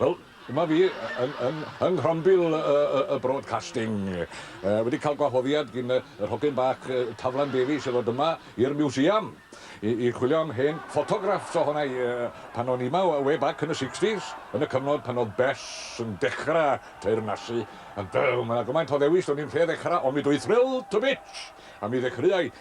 Wel, dyma fi yn yn yng nghrombil y broadcasting, wedi cael gwahoddiad gin yr hogyn bach Taflan Davies i ddod yma i'r Museum i i chwilio am hen ffotograffs ohona i pan o'n i yma way back yn y sixties, yn y cyfnod pan oedd Bess yn dechra teyrnasu, a ma' 'na gymaint o ddewis, do'n i'm lle ddechra, ond mi dw i thrilled to bits! A mi ddechreuai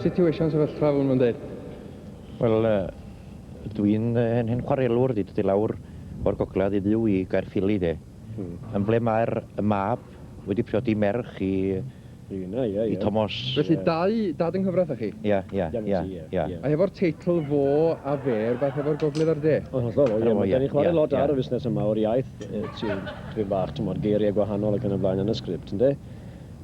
situation sefyllfa hwn yn dweud? Wel, uh, dwi'n uh, hen, hen chwarelwr, di dydy lawr o'r gogledd i fyw i Gaerffili, de. Hmm. Yn ble mae'r mab wedi priodi merch i i Tomos. Felly dau dad yng nghyfraith â chi? Ia, ia, ia, ia. A hefo'r teitl 'Fo a Fe' rywbeth hefo'r Gogledd a'r De? Yn hollol, o ie, ma'... Da ni'n chwarae lot ar y fusnes yma o'r iaith, ti'n dipyn bach, t'mod, geiriau gwahanol ac yn y blaen yn y sgript, ynde?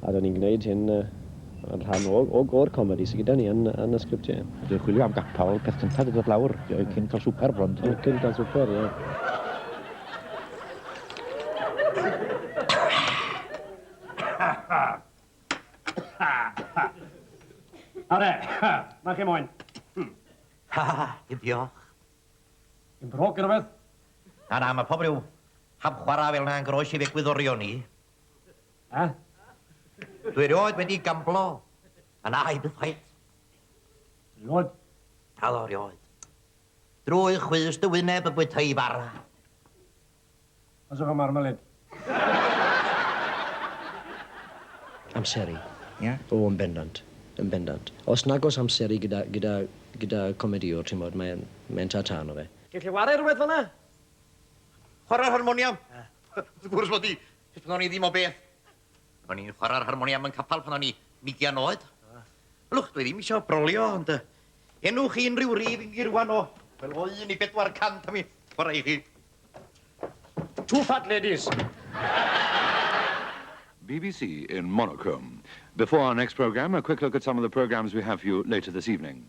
A da ni'n gwneud hyn yn rhan o, o, o'r comedi sy gyda ni yn, yn y sgript, ie. A dwi'n chwilio am gapel, peth cyntaf i ddod lawr, cyn cael swper bron, ydw? Cyn cael swper, ie. Are, mae chi moyn. Ha, ha, ha, diolch. Yn broc yn rhywbeth? Na, na, mae pob rhyw hap chwarae fel na'n groes i fegwyddorion ni. Ha? Dwi rioed wedi gamblo. A na, i bythwaith. Rioed? Dal o rioed. Drwy chwys dy wyneb y bwyta i fara. Os efo marmalade. Amseru. Ia? O, yn bendant. Yn bendant. Os nag oes amseru gyda, gyda, gyda comedïwr, ti'n gwybod, mae'n, mae'n ta-ta yno fe. Gei chi ware rhywbeth fan'na? Chwarae'r harmoniam? Wrth gwrs mod i. Jyst pan o'n i ddim o beth. O'n i'n chwarae'r harmoniam yn capal pan o'n i ugian oed. Ylwch, dwi ddim eisiau brolio, ond uh, enwch chi unrhyw rif i mi rwan o, fel o un i bedwar cant a mi chwarae i chi. Two fat ladies. BBC in Monaco. Before our next programme, a quick look at some of the programmes we have for you later this evening.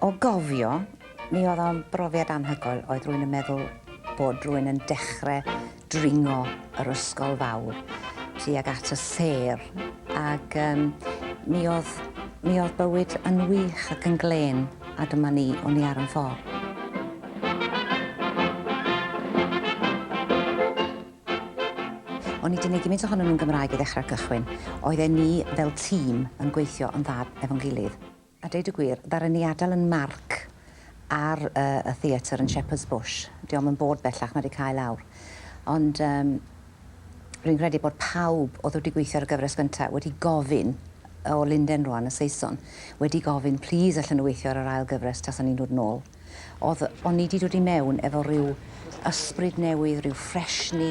O gofio, mi oedd o'n brofiad anhygoel, oedd rwy'n yn meddwl bod rwy'n yn dechrau dringo yr ysgol fawr tuag at y sêr, ac um, mi, oedd, mi oedd bywyd yn wych ac yn glên, a dyma ni, o'n i ar yn ffordd. O'n i 'di neud gymint ohonyn nhw'n Gymraeg i ddechrau'r cychwyn. Oedden ni fel tîm yn gweithio yn dda efo'n gilydd. A deud y gwir, ddaru ni adael yn marc ar yy y theatr yn Shepherd's Bush. Dio'm yn bod bellach, mae 'di cau lawr. Ond yym rwy'n credu bod pawb oedd wedi gweithio ar y gyfres gynta' wedi gofyn, o Linden rwan, y Saeson, wedi gofyn, 'Plîs allen nhw weithio ar yr ail gyfres tasan ni'n dod nôl? Oedd, o'n i 'di dod i mewn efo rhyw ysbryd newydd, rhyw ffresni.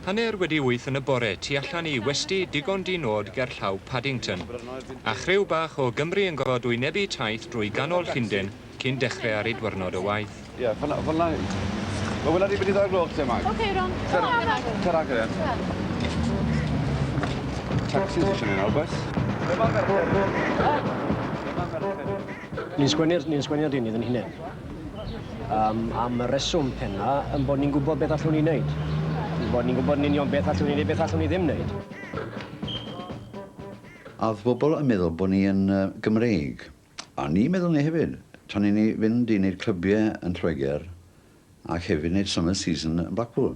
Hanner wedi wyth yn y bore, tu allan i westy digon di-nod gerllaw Paddington. A chriw bach o Gymry yn gorfod wynebu taith drwy ganol Llundain cyn dechre ar eu dwyrnod o waith. Ie, fynna, fynna yw. Wel, wela di be di ddau o'r gloch te, Mag. Ok, iawn. Cer a Mag. Cer a, cer a. Tacsi ti isio neud nawr, bois? Be ma' merched yn neud? Be ma' merched yn neud? Ni'n sgwennu'r, ni'n sgwennu'r deunydd yn hunain. Um, am y reswm penna, yn bod ni'n gwybod beth allwn ni wneud. Yn bod ni'n gwybod yn union beth allwn ni wneud, beth allwn ni ddim wneud. A oedd pobl yn meddwl bod ni yn uh, Gymreig. A ni meddwl ni hefyd. Tra ni'n ni fynd i wneud clybiau yn Lloegr ac hefyd wneud summer season yn Blackpool.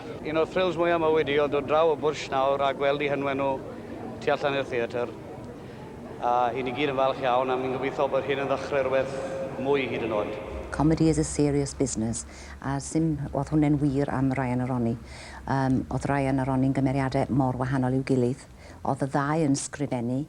Un o'r thrills mwya ma wedi oedd dod draw o Bwrsh nawr a gweld i hynwen nhw tu allan i'r theatr. A i ni gyd yn falch iawn a mi'n gobeithio bod hyn yn ddechrau rhywbeth mwy hyd yn oed. Comedy is a serious business a sim oedd hwne'n wir am Ryan a Ronnie. Yym, oedd Ryan a Ronnie'n gymeriadau mor wahanol i'w gilydd. Oedd y ddau yn sgrifennu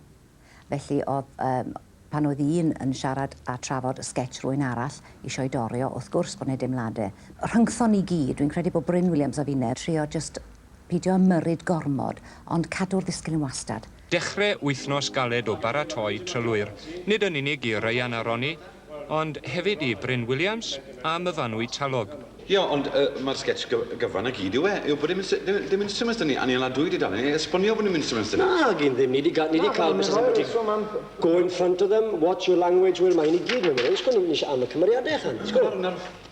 Felly oedd yym pan oedd un yn siarad a trafod sgets rywun arall isio'i dorri o, wrth gwrs bod 'na deimlade. Rhyngthon ni gyd, dwi'n credu bod Bryn Williams a finne, trio jyst pidio ymyrryd gormod, ond cadw'r ddisgyl yn wastad. Dechre wythnos galed o baratoi trylwyr, nid yn unig i Ryan a Ronnie, Ond hefyd i Bryn Williams a Myfanwy Talog. Ie, ond y mae'r sgets gy gyfan y gyd yw e, yw bod dim instru dim dim instruments 'da ni, a ni yn ladwy dudalen ni esbonio bod dim instruments 'da ni. Nag un ddim, ni 'di ga- ni 'di cael Mister Seventy go in front of them, watch your language, wel mae hyn i gyd mewn man hyn, sgwennu am y cymeriadau ychan, sgwr.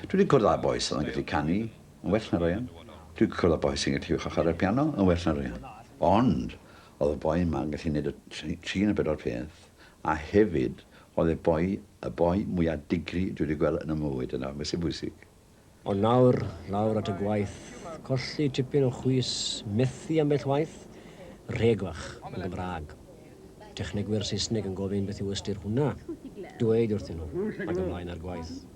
Dwi wedi cwrdd â boi sydd yn gallu canu yn well na Ryan. Dwi wedi cwrdd â boi sy'n gallu uwch a chwarae'r piano yn well na Ryan. Ond, oedd y boi yma yn gallu neud y tri neu bedwar peth, a hefyd, oedd e boi, y boi mwya digri dwi wedi gweld yn 'y mywyd, a 'na beth sy'n bwysig. Ond nawr, lawr at y gwaith, colli tipyn o chwys, methu ambell waith, rheg fach, yn Gymraeg. Technegwyr Saesneg yn gofyn beth yw ystyr hwnna. Dweud wrthyn nhw, ac ymlaen â'r gwaith.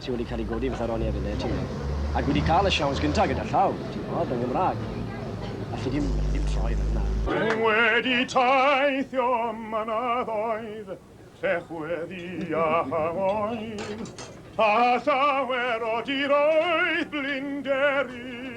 Ti wedi cael ei godi fatha Ronnie ar y net, ti'n gwybod. Ac wedi cael y siawns gyntaf gyda llaw, ti'n gwybod, yn Gymraeg. Alli di'm, alli di'm troi fe hwnna. Dwi wedi teithio mynyddoedd, lle chweddi a changoedd, a llawer o diroedd blinderus.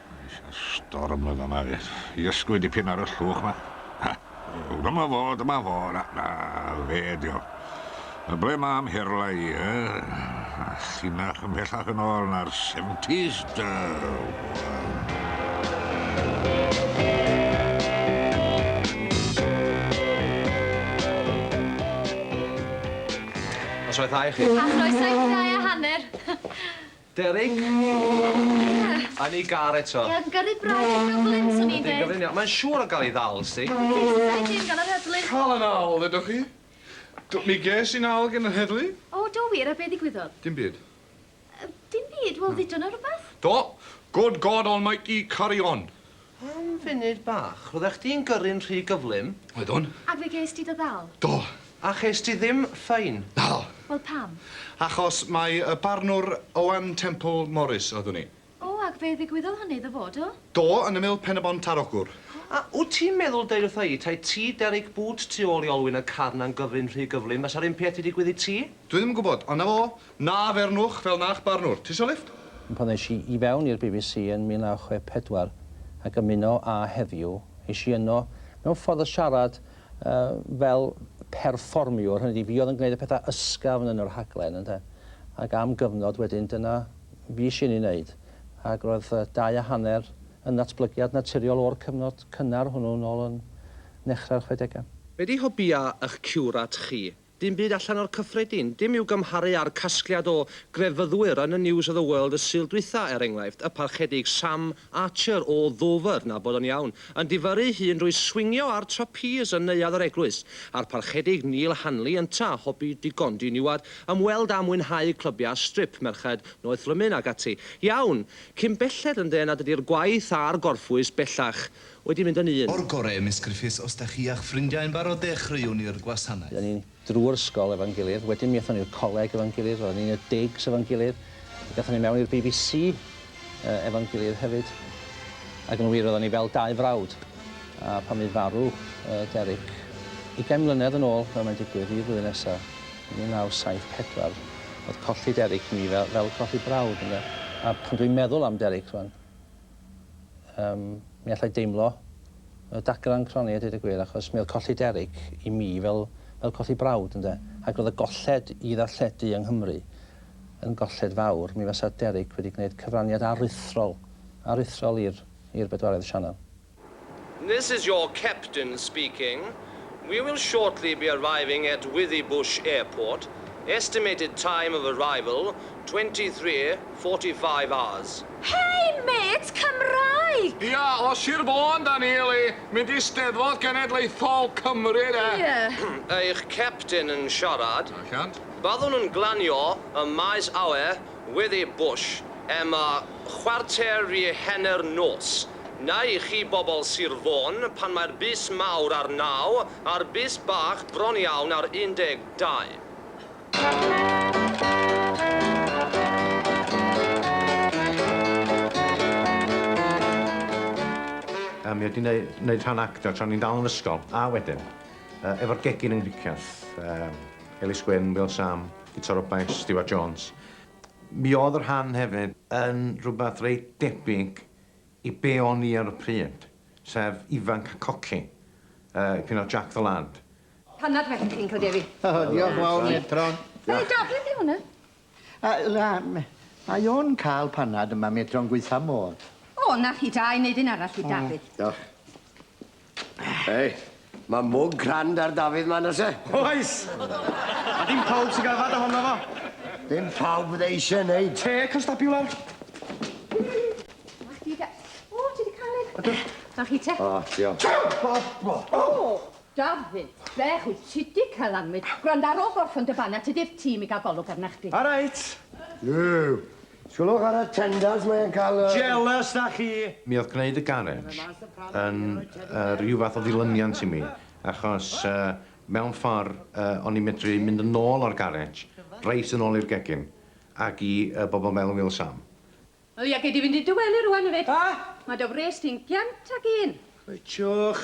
Storm oedd hwnna fyth. I ysgwy dipyn ar y llwch ma. Ha! Dyma fo, dyma fo. Na, na, fe dio. A ble mae amherlau i, e? A llinach ymhellach yn ôl na'r 70s, da. Noswaith dda i chi. A chroeso i chi ddau a hanner. Derek! A ni gar eto. Ie, fi'n gyrru braidd i Dublin, swn i'n dweud. Ydy, mae'n siŵr o gael ei ddal, sdi. Bethau dim gan yr heddlu. Cael y nawl, ddedwch chi? Do, mi ges i nawl gan yr heddlu. O, do wir? A be ddigwyddodd? Dim byd. Dim byd? Wel, ddudo 'na rwbeth. Do! Good God Almighty, carry on! Am funud bach, roeddech chdi'n gyrru'n rhy gyflym. Oeddwn. A fe ges ti dy ddal? Do. A ches ti ddim ffein? Naddo. Wel pam? Achos mai y barnwr Owen Temple Morris oeddwn i. O, ac fe ddigwyddodd hynny iddo fo, do? Do, yn ymyl Pen-y-bont ar Ogwr. A wt ti'n meddwl deud wrtha i, tae ti Derek Boot tu ôl i olwyn y carn a'n gyrru'n rhy gyflym, fasa'r un peth 'di digwydd i ti? Dwi ddim yn gwybod, ond 'na fo, Na fernwch fel na'ch barnwr. Tisio lifft? Pan es i i fewn i'r bbc yn 1964 ac ymuno â Heddiw, es i yno mewn ffordd o siarad fel perfformiwr, hynny ydi, fi oedd yn gwneud y pethau ysgafn yn y rhaglen, ynde. Ac am gyfnod wedyn, dyna fues i'n ei wneud. Ac roedd dau a hanner yn ddatblygiad naturiol o'r cyfnod cynnar hwnnw nôl yn nechrau'r chwedegau. Be 'di hobïau 'ych ciwrat chi? Dim byd allan o'r cyffredin. Dim i'w gymharu â'r casgliad o grefyddwyr yn y News of the World y Sul dwytha, er enghraifft, y Parchedig Sam Archer o Ddover, na bod o'n iawn, yn difyrru'i hun drwy swingio ar trapîs yn neuadd yr eglwys, a'r Parchedig Neil Hanley ynta, hobi digon diniwad, ymweld â mwynhau clybiau strip, merched, noethlymun ac ati. Iawn! Cyn belled yn dde nad ydi'r gwaith a'r gorffwys bellach Wedi mynd yn un. O'r gore Miss Griffiths os da chi a'ch ffrindiau yn barod dechreuwn ni'r gwasanaeth. Roedden ni drwy'r ysgol efo'n gilydd, wedyn mi aethon ni i'r coleg efo'n gilydd, roedden ni'n y digs efo'n gilydd, gaethon ni mewn i'r bbc efo'n gilydd hefyd, ac yn wir roedden ni fel dau frawd, a pan fydd farw Derek ugain mlynedd yn ôl fel mae'n digwydd i flwyddyn nesa, 1974, oedd colli Derek i mi fel colli brawd ynde, a pan dwi'n meddwl am Derek rwan, Yym, mi allai deimlo y dagrau yn cronni a deud y gwir, achos mi oedd colli Derek i mi fel fel colli brawd, ynde? Ac roedd y golled i ddarlledu yng Nghymru yn golled fawr. Mi fasa Derek wedi gwneud cyfraniad aruthrol aruthrol i'r i'r bedwaredd sianel. This is your captain speaking, we will shortly be arriving at Withybush Airport, estimated time of arrival 23:45 hours. Hei mêt Cymraeg! Ia, o Sir Fôn 'da ni, yli, mynd i Steddfod Genedlaethol Cymru 'de. Ie. Eich captain yn siarad. Allan. Byddwn yn glanio ym maes awyr Wyddi Bush, Emma, chwarter i hanner nos. Neu i chi bobl Sir Fôn, pan mae'r bys mawr ar naw, a'r bys bach bron iawn ar un deg dau. A mi oedd 'di neu- neud rhan actio tra o'n i'n dal yn ysgol, a wedyn, yy, efo'r gegin yng Nghricieth, yy, Elis Gwyn, Wil Sam, Gitar o Baich Stiwart Jones. Mi oedd y rhan hefyd yn rhywbeth reit debyg i be o'n i ar y pryd, sef ifanc a coci, dipyn o Jack the Lad. Pan nad fedrwch chi'n cael dewi. O, diolch yn fawr, Metron. Mae Dafydd di hwnna. Na, mae o'n cael panad yma, Metron, gwaetha modd. O, na chi da, i wneud un arall i Dafydd. Diolch. Hei, ma' mwg grand ar Dafydd 'ma nose. Oes! A dim pawb sy'n ga'l fad ohono fo. Dim pawb fydde eisiau neud. Te, constabulor? Chdi de. O, ti 'di canu. Ydw. A chi te? O, diolch. O! Dafydd, beth wyt ti 'di cael anwyd? Gwranda, ar ôl gorffen dy fana, tydi'r tîm i gael golwg arna chdi. All right. Yw, Sylwch ar y tenders mae e'n cael y... Jealous 'da chi! Mi oedd gwneud y garej yn rhyw fath o ddilyniant i mi, achos mewn ffordd o'n i'n medru mynd yn ôl o'r garej, reit yn ôl i'r gegin, ac i bobl fel Wil Sam. O ia, gei di fynd i dy wely rŵan hefyd. Mae dy wres di'n giant ac un. Coetsiwch.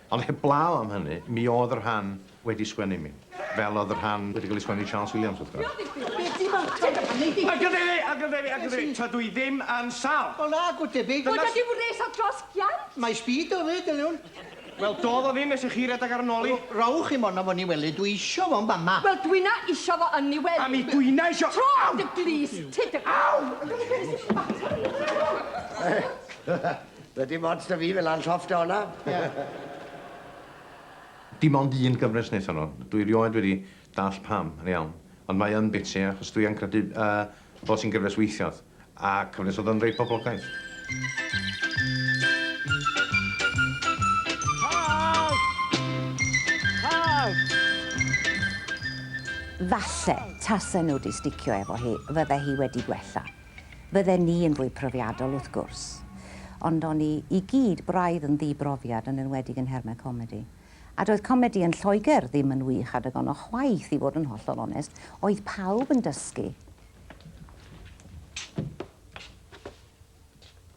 Ond heblaw am hynny, mi oedd y rhan wedi sgwennu i mi. Fel oedd y rhan wedi cael ei sgwennu i Charles Williams, wrth gwrs. Ac yn debyg, ac yn debyg, ac yn debyg, tydw i ddim yn sâl! Wel na, go debyg. Bod ag i'w res o dros giant! Mae speed o fyd, Eliwn. Wel, dodd o ddim nes i chi redeg ar 'y nol i. Wel, rowch chi mond am fo Niwelyd, dwi isio fo yn fama. Wel, dwi na isio fo yn Niwelyd. A mi dwi na isio. Tro dy glust ti dy. Aw! Be sy'n mater arna ti? Doedd dim ots 'da fi, fe la'n llofft o 'na. Dim ond un gyfres wnaethon nhw. Dwi rioed wedi dallt pam, yn iawn. Ond mae yn biti, achos dwi yn credu fod hi'n gyfres weithiodd. A cyfres oedd yn reit poblogaidd. Falle, tase nhw 'di sticio efo hi, fydde hi wedi gwella. Bydden ni yn fwy profiadol, wrth gwrs. Ond o'n ni i gyd braidd yn ddi-brofiad, yn enwedig yn nhermau comedi. A doedd comedi yn Lloegr ddim yn wych adeg honno chwaith, i fod yn hollol onest. Oedd pawb yn dysgu.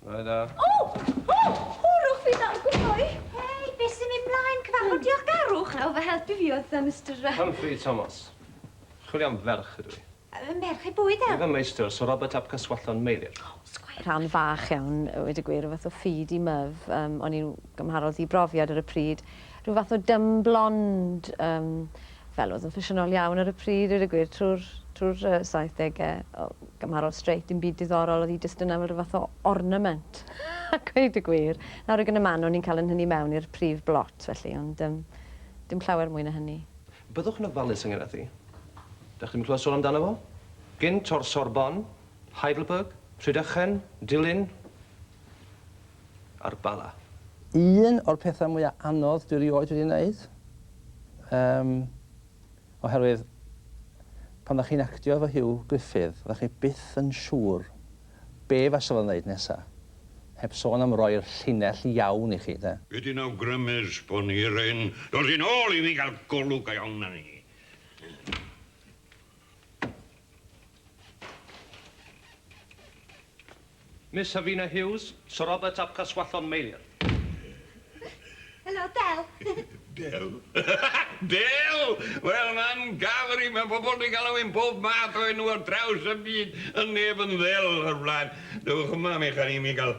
Bore da. O! O! Hwrwch fi nawr, gwmhwy! Hei, be' sy'n myn' mlaen? Cyfarfod diolchgarwch? Nawr fy helpu fi oedd yy Mister yy... Humphrey Thomas. Chwilio am ferch ydw i. Fy merch ei bwyd e! Fy meistr, Sir Robert ap Caswallon, Meilir. O, sgwêr! Rhan fach iawn, a weud y gwir, o fath o feed i myf. Yym, o'n i'n gymharol ddi-brofiad ar y pryd. Rhyw fath o dumb blonde, yym, fel oedd yn ffasiynol iawn ar y pryd, dweud y gwir, trwy'r, trwy'r, yy, saithdege. O, gymharol straight, dim byd diddorol, oedd hi jyst yna fel rhyw fath o ornament, a gweud y gwir. Nawr ag yn y man, o'n i'n cael yn nhynnu mewn i'r prif blot, felly, ond, yym, dim llawer mwy na hynny. Byddwch yn ofalus ynghylch hi. Dach chi ddim yn clywed sôn amdano fo? Gynt o'r Sorbonne, Heidelberg, Rhydychen, Dulyn a'r Bala. Un o'r pethau mwya anodd dwi erioed wedi neud. Yym, oherwydd pan dach chi'n actio efo Huw Gruffydd, fyddach chi byth yn siŵr be' fasa fo'n neud nesa, heb sôn am roi'r llinell iawn i chi, 'de? Wedyn awgrymes bo' ni r'un dod yn ôl i mi ga'l golwg go iawn arni. Miss Havina Hughes, Sir Robert ap Caswallon Meilir. Helo, Del. Del? Del! Wel, mae'n gafr i, mae pobl wedi galw i'n bob math o enw ar draws y byd, yn neb yn ddel o'r blaen. Dewch yma, mi chan i mi gael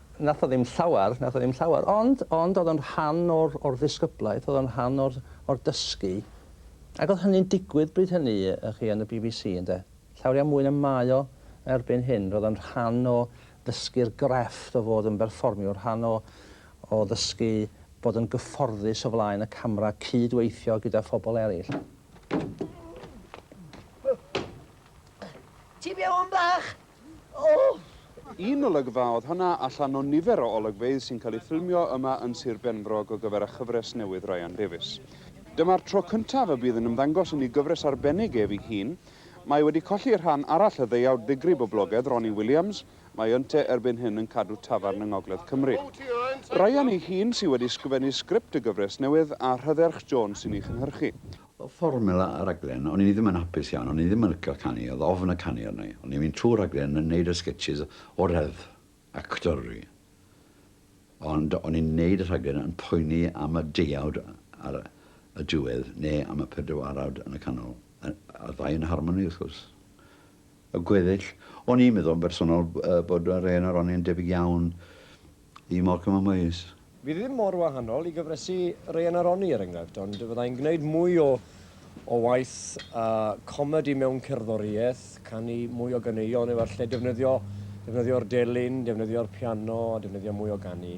Nath o ddim llawer, nath o ddim llawer, ond, ond oedd o'n rhan o'r, o'r ddisgyblaeth, oedd o'n rhan o'r, o'r dysgu. Ac oedd hynny'n digwydd bryd hynny, y'ch chi, yn y bbc, ynde. Llawriau mwy na mae o erbyn hyn. Roedd o'n rhan o ddysgu'r grefft o fod yn berfformiwr, rhan o, o ddysgu bod yn gyfforddus o flaen y camera, cyd-weithio gyda phobl eraill. Ti fewn bach? Un olygfa oedd honna allan o nifer o olygfeydd sy'n cael eu ffilmio yma yn Sir Benfro go gyfer â chyfres newydd Ryan Davies. Dyma'r tro cyntaf y bydd yn ymddangos i ni gyfres arbennig ef ei hun. Mae wedi colli rhan arall y ddeuawd ddigri boblogedd, Ronnie Williams, mae ynte erbyn hyn yn cadw tafarn yng Ngogledd Cymru. Ryan ei hun sy wedi sgrifennu sgript y gyfres newydd a Rhydderch Jones sy'n ei chynhyrchu. Oedd fformel y rhaglen, o'n i ddim yn hapus iawn, o'n i ddim yn licio canu, oedd ofn y canu arna i. O'n i'n mynd trwy'r rhaglen yn neud y sketches o reddf actyrru, ond o'n i'n neud y rhaglen yn poeni am y deuawd ar y diwedd, neu am y pedwarawd yn y canol. A'r ddau yn harmoni wrth gwrs. y gweddill. O'n i'n meddwl yn bersonol bod yr hen aroni yn debyg iawn i Morecambe a Moyes. Fydd ddim mor wahanol i gyfresi Raean a Ronnie er enghraifft, ond fyddai'n gwneud mwy o o waith a comedi mewn cerddoriaeth, canu mwy o ganeuon efallai, defnyddio defnyddio'r delyn, defnyddio'r piano a defnyddio mwy o ganu.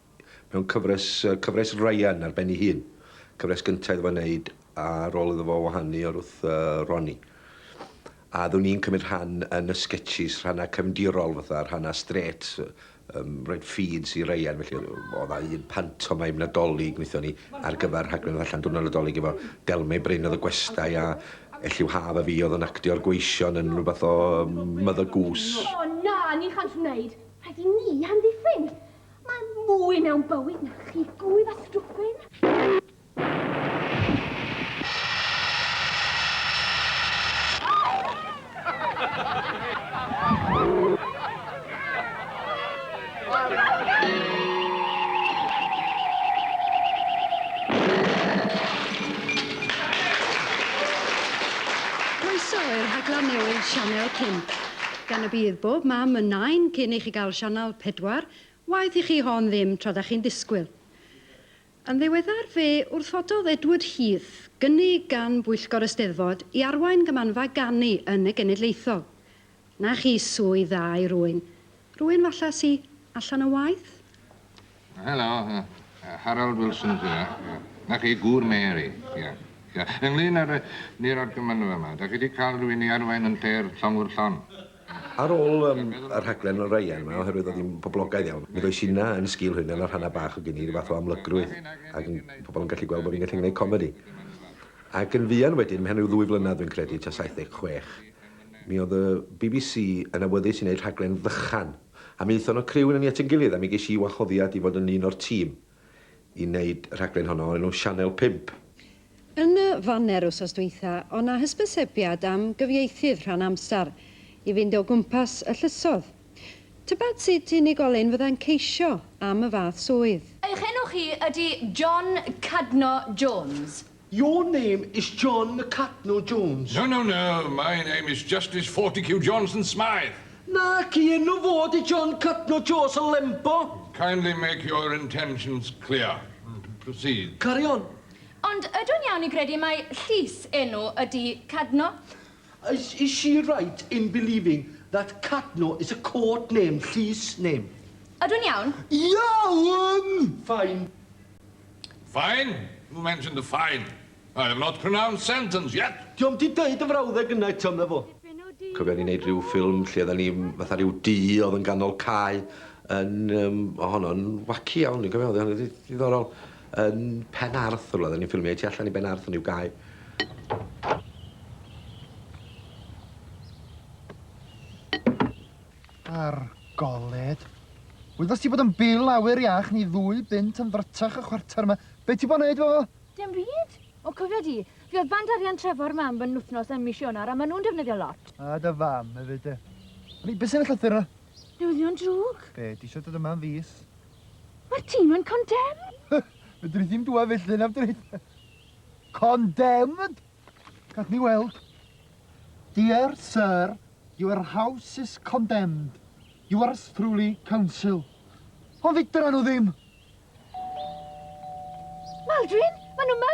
mewn cyfres, cyfres Ryan ar ben ei hun. Cyfres gynta iddo fo wneud ar ôl iddo fo wahanu o'r wrth Ronnie. A ddwn i'n cymryd rhan yn y sketches, rhannau cefndirol fatha, rhannau straight, um, rhaid feeds i Ryan, felly oedd dda un pantomaim nadolig wnaethon ni ar gyfer rhaglen oedd allan diwrnod nadolig efo Delmau Bryn oedd y gwestai a Elliw Haf a fi oedd yn actio'r gweision yn rhywbeth o Mother Goose. O na, ni chant wneud, rhaid i ni hamddiffyn. Mae mwy mewn bywyd na chi gwydd a stwffyn. Croeso i'r rhaglen newydd Sianel 5. Gan y bydd bob mam yn nain cyn i chi gael sianel pedwar, waeth i chi hon ddim tra da chi'n disgwyl. Yn ddiweddar fe wrthododd Edward Heath gynnig gan bwyllgor y Steddfod i arwain Gymmanfa Ganu yn y Genedlaethol. Na chi swydd dda i rwyn. Rwyn falla sy allan o waith? Helo, Harold Wilson sydd yna. Ie. 'Na chi, gŵr Mary. Ie. Ie. Ynglŷn â'r yy ni'r argymanfa 'ma, 'dach chi 'di ca'l rywun i arwain yn lle'r llongwr llon'? Ar ôl yym y rhaglen Ryan 'ma, oherwydd o'dd 'i'n poblogaidd iawn, mi ddois inna yn sgil hyn, a nath hanna bach o gyn i, ryw fath o amlygrwydd, ag yn pobol yn gallu gweld bo' fi'n gallu gneud comedi. Ac yn fuan wedyn, mewn ryw ddwy flynadd dwi'n credu, tua saith deg chwech, mi o'dd y Bee Bee See yn awyddus i neud rhaglen ddychan, A mi aethon y criw yna ni at ein gilydd a mi ges i wahoddiad i fod yn un o'r tîm i neud y rhaglen honno o'r enw Sianel Pump. Yn y faner wsos dwytha o' na hysbysebiad am gyfieithydd rhan amsar i fynd o gwmpas y llysodd. Tybed sut unigolyn fydda'n ceisio am y fath swydd? Eich enw chi ydi John Cadno Jones? Your name is John McCatno Jones. No, no, no, my name is Justice Fortecue Johnson Smythe. Naci, enw fo ydi John Catno Joes o Lembo. Kindly make your intentions clear. Proceed. Carry on. Ond ydw i'n iawn i gredu mai llys enw ydi Cadno? Is, is she right in believing that Cadno is a court name, llys name? Ydw i'n iawn? Iawn! Fine. Fine, you mentioned the fine. I have not pronounced sentence yet. Dio'm 'di deud y frawddeg yna eto, medda fo. Cofia ni'n neud ryw ffilm lle odda ni fatha ryw du odd yn ganol cae yn yym o' honno'n waci iawn dwi'n cofio odd o'n reit ddiddorol yn Pen Arth rwla odda ni'n ffilmio i tu allan i Ben Arth yn ryw gae. Ar goled. Wyddost ti bod yn bil awyr iach ni ddwy bunt yn ddrytach y chwarter yma. Be ti bo' neud efo fo? Dim byd. O cofia di, fi oedd band arian Trefor mam yn wthnos ym mis Ionar a ma nhw'n defnyddio lot. A dy fam efyd de. O'n i be sy'n y llythyr yna? Newyddion drwg. Be, di isio dod yma am fis? Ma'r tîn yn condemn! Fedri di'm dwad felly nafdri? Condemned? Gad ni weld. Dear Sir, your house is condemned. Yours truly, Council. Ond fedra nhw ddim! Maldwyn, maen nhw yma!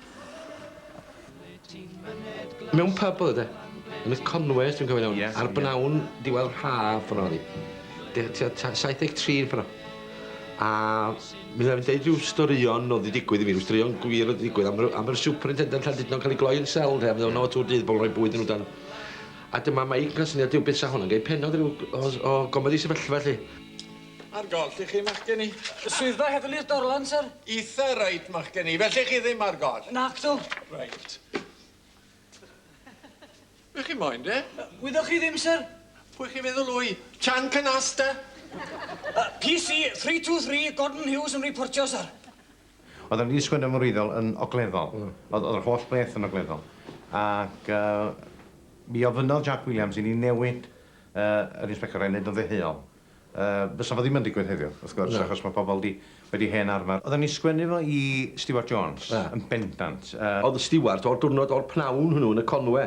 Mewn pyb oedd e. Yn y Conway os dwi'n cofio'n iawn. Yes. Ar bnawn diwedd haf ffordd oedd 'i. Deu- tua ta- 73 yn ffordd. A mi fyddai'n deud rhyw storïon oedd 'di digwydd i fi, rhyw storïon gwir oedd 'di digwydd am yr am yr superintendent Llandudno'n cael ei gloi yn sel ynde a mi o'dd yno tŵr dydd bobl yn rhoi bwyd yn nhw dan. A dyma Mike yn cael syniad Duw beth 'sa hwn yn gai pennod ryw o s- o gomedi sefyllfa 'lly. Ar goll i chi, Machgen i. Y swyddfa heddlu'r Dorlan, syr. Eitha reit, Machgen i. Felly chi ddim ar goll? Nacdw. Reit. Be chi moyn, de? Gwyddoch chi ddim, syr. Pwy chi'n feddwl wy? Chan Canasta? Uh, PC 323, Gordon Hughes yn reportio, syr. Oedd o'n wedi sgwennu am y wreiddiol yn ogleddol. Mm. Oedd, oedd yr holl beth yn ogleddol. Ac uh, mi ofynnodd Jack Williams i ni newid uh, yr inspector a'i wneud yn ddeheuol. Yy, fysa fo ddim yn digwydd heddiw, wrth gwrs... Na. ...achos ma' pobol 'di, wedi hen arfar. Oddan ni sgwennu fo i Stewart Jones. Ie. Yn bendant. Yy. O'dd Stewart o'r dwrnod o'r pnawn hwnnw yn y Conwe.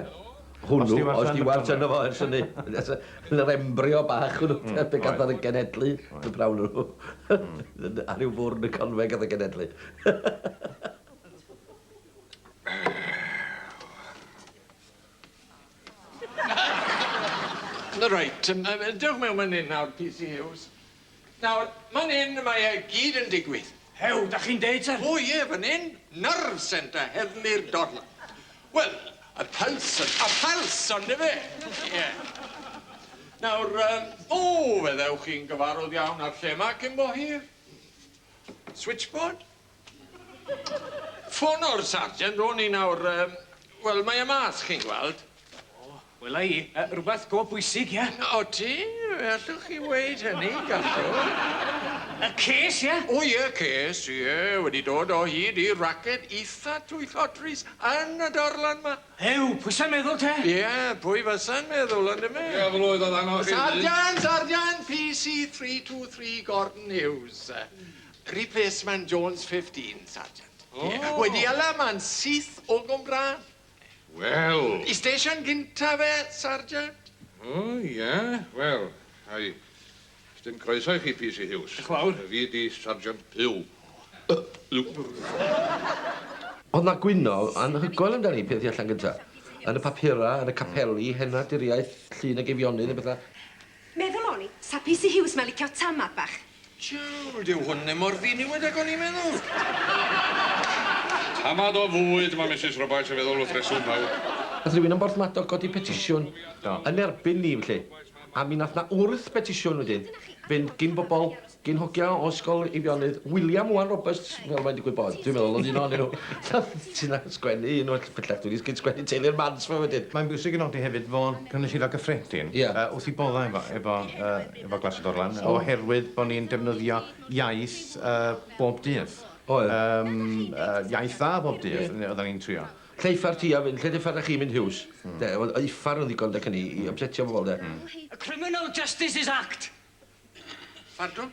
Hwnnw. O'dd Stewart yn y Conwe. O'dd Stewart yno fo ers hynny. Yn yr embryo bach hwnnw. Hmm. Oedd. Lle gath o 'i genedlu. Oedd. Y pnawn hwnnw. Hmm. Ar ryw fwrn y Conwe gath o genedlu. Wel. Reit, yym yym dewch mewn man 'yn nawr, PC Huws. Nawr, man 'yn mae e gyd yn digwydd. Hew, 'dach chi'n deud te? O ie, fan 'yn, nerve centre heddlu'r dorlan. Wel, y pyls y y pyls yndyfe? Ie. Nawr yym, o, fe ddewch chi'n gyfarwdd iawn â'r lle 'ma cyn bo hir. Switchboard? Ffono'r sergeant ro'n i nawr, yym, wel, mae e mas, chi'n gweld. O, wela i, yy, rwbeth go bwysig, ie? Odi, fe allwch chi weud hynny, gallwch. Y ces, ie? O ie, y ces, ie, wedi dod o hyd i raced itha twyllodrus yn y darlan 'ma. Ew, pwy sa'n meddwl te? Ie, pwy fasa'n meddwl, yndyfe? Ie, fel oedd o ddanos i fi. Sergeant, sergeant, PC three two three Gordon Hughes. Replacement Jones 15, Sergeant. O! Ie, wedi hala man syth o Gwmbrân. Wel! Y station gynta fe, Sergeant. O, ie, wel, ai, sdim croeso i chi, PC Hughes. Dioch fawr. Fi ydi Sergeant Puw. O'dd 'na gwyno anhygoel amdani peth i allan gynta. Yn y papura, yn y capeli, Hena, Diriaeth, Llun ag Eifionydd a betha. Meddwl o'n i, sa PC Hughes ma'n licio tamad bach. Jiw, dyw hwn ddim mor ddiniwed ag o'n i'n meddwl. Tamad o fwyd, mae Misus Roberts yn feddwl wrth reswm fawr. Nath rywun yn Borthmadog godi petisiwn yn erbyn ni felly, a mi nath 'na wrth betisiwn wedyn fynd gin bobol Gin hogia o Ysgol Eifionydd William Owen Roberts, fel mae'n digwydd bod, dwi'n meddwl, oedd un o'n nhw. Ti'n sgwennu un o'r pellach, dwi'n sgyn sgwennu teulu'r Mans fo wedyn. Mae'n bwysig i nodi hefyd fod Cynulleidfa Gyffredin wrth ei boddau efo efo Glas y Dorlan oherwydd bod ni'n defnyddio iaith bob dydd. Oedd. Yym iaith dda bob dydd oedden ni'n trio. Lle uffar ti a fyn, lle uffar a chi mynd Huws? De, oedd uffar yn ddigon de cyn i i ypsetio bobl de. Y Criminal Justices Act! Pardwn?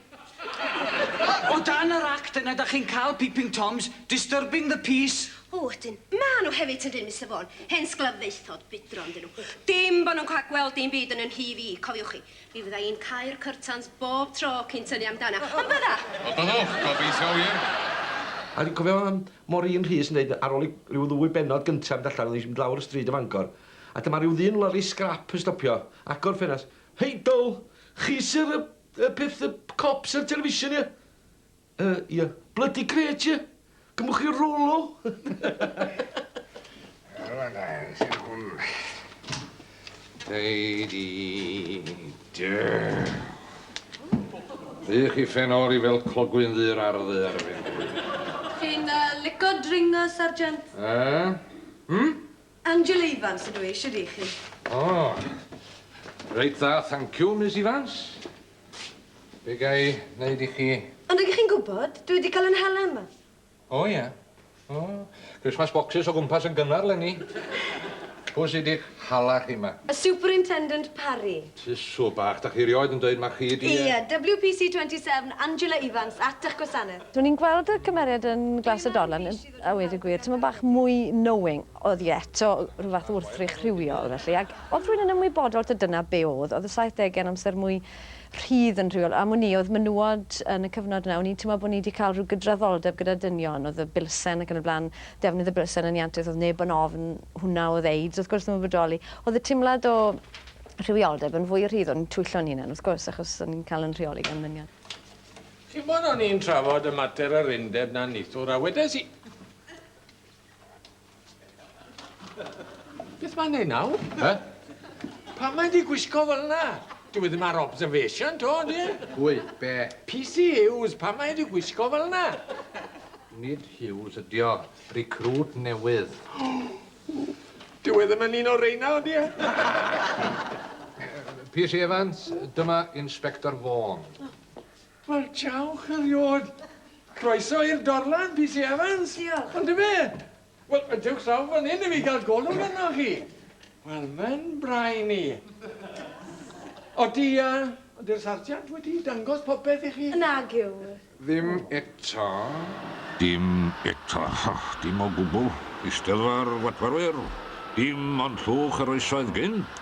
O dan yr Act yna 'dach chi'n cael peeping toms, disturbing the peace. O ydyn. Ma' nhw hefyd yndyn, Mister Vaughan. Hen sglaffaethod budron 'dyn nhw. Dim bo' nhw'n cael gweld dim byd yn 'y nhŷ fi, cofiwch chi. Mi fydda i'n cau'r cyrtans bob tro cyn tynnu amdana. Ond bydda! Wel byddwch, gobeithio wir. A dwi'n cofio yym Maureen Rhys yn deud ar ôl i ryw ddwy bennod gynta' mynd allan, oedden ni'n mynd lawr y stryd i Fangor, a dyma ryw ddyn lorri sgrap yn stopio, agor ffenast, Heidl, chi sy'r y y peth y cops ar television ie? Yy ie. Blydi grêt ie? Gymwch chi rolo? Rwla da iawn sy'n hwn. Dei di dy. Ydych chi ffenori fel clogwyn ddu yr ardd ddu ar y fen. Chi'n yy lico dringo sergeant? Yy? Hmm? Angela Evans ydw i, shwd 'y chi? O! Reit dda, thanciw, Miss Evans. Be' ga i neud i chi? Ond ydych chi'n gwybod, dwi wedi cael 'yn hala yma. O ie. O, Christmas boxes o gwmpas yn gynnar 'lenni. Pw sy 'di'ch hala chi 'ma? Y Superintendent Parry. Tusw bach, 'dach chi rioed yn deud ma' chi 'di yy... Ie, WPC 27, Angela Evans, at 'ych gwasaneth. Ro'n i'n gweld y cymeriad yn Glas y Dorlan yn... A weud y gwir, tymed bach mwy knowing oedd hi eto, rhyw fath o wrthrych rhywiol, felly. Ac oedd rhywun yn ymwybodol taw dyna be oedd. Oedd y saithdegau'n amser mwy rhydd yn rhywiol. Am wn i, oedd menywod yn y cyfnod yna, o'n i'n teimlo bod ni 'di cael rhyw gydraddoldeb gyda dynion, oedd y bilsen ac yn y blaen, defnydd y bilsen yn iantus, oedd neb yn ofn hwnna oedd AIDS, wrth gwrs, ddim yn bodoli. Oedd y teimlad o rhywioldeb yn fwy rhydd, o'n i'n twyllo'n hunan, wrth gwrs, achos o'n i'n cael yn rheoli gan ddynion. Chimod, o'n i'n trafod y mater yr undeb na nithwr, a wedes i... Beth mae'n ei nawr? He? Pam mae di gwisgo fel yna? Dwi ddim ar observation, to, di? E? Pwy? Be? PC Hughes, pam mae di gwisgo fel yna? Nid Hughes ydi o. Recruit newydd. Dwi e ddim yn un o reina, di? E? PC Evans, dyma Inspector Vaughan. Wel, diolch eriod. Croeso i'r dorlan, PC Evans. Diolch. Yndyfe? Wel, dewch draw fan hyn i fi gael golwg arnoch chi. Wel, mae'n brain i. Odi, uh, ydy'r sarjant wedi dangos popeth i chi? Nag yw. Ddim eto. Dim eto. Dim o gwbl. Eisteddfa'r Watwarwyr. Dim ond llwch yr oesoedd gynt.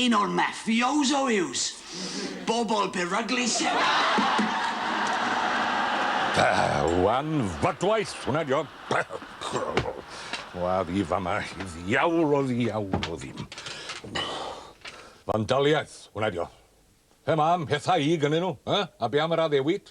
Un o'r mafioso yws bobl beryglus. Wan fodwaith hwnna dio. Wa fi fama i ddiawl o ddiawl o ddim. Fandaliaeth hwnna dio. Pe ma am pethau i gynnyn nhw, a be am yr addewid?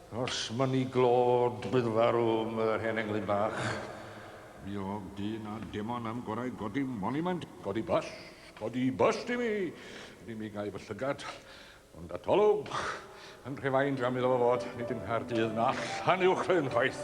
Os ma ni glod bydd farw am yr hen englyn bach. Mi odd dyn a demon am gorau godi monument. Codi bust, codi bust i mi! Ni mi gai fy llygad, ond atolwg! Yn Rhufeind am iddo fo fod, nid yng Nghaerdydd na Llanuwchllyn chwaith!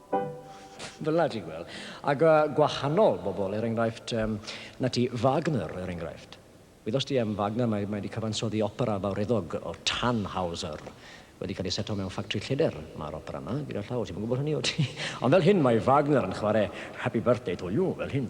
Fel 'na ti'n gweld. Ac yy gwahanol bobl, er enghraifft, yym, 'na ti, Wagner, er enghraifft. Wyddost ti am Wagner? Mae mae 'di cyfansoddi opera fawreddog o Tannhauser. Wedi cael ei seto mewn ffactri lleder, mae'r opera 'ma, gyda llaw. Ti'm yn gwybod hynny, wyt ti? Ond fel hyn mae Wagner yn chwarae Happy Birthday to You, fel hyn.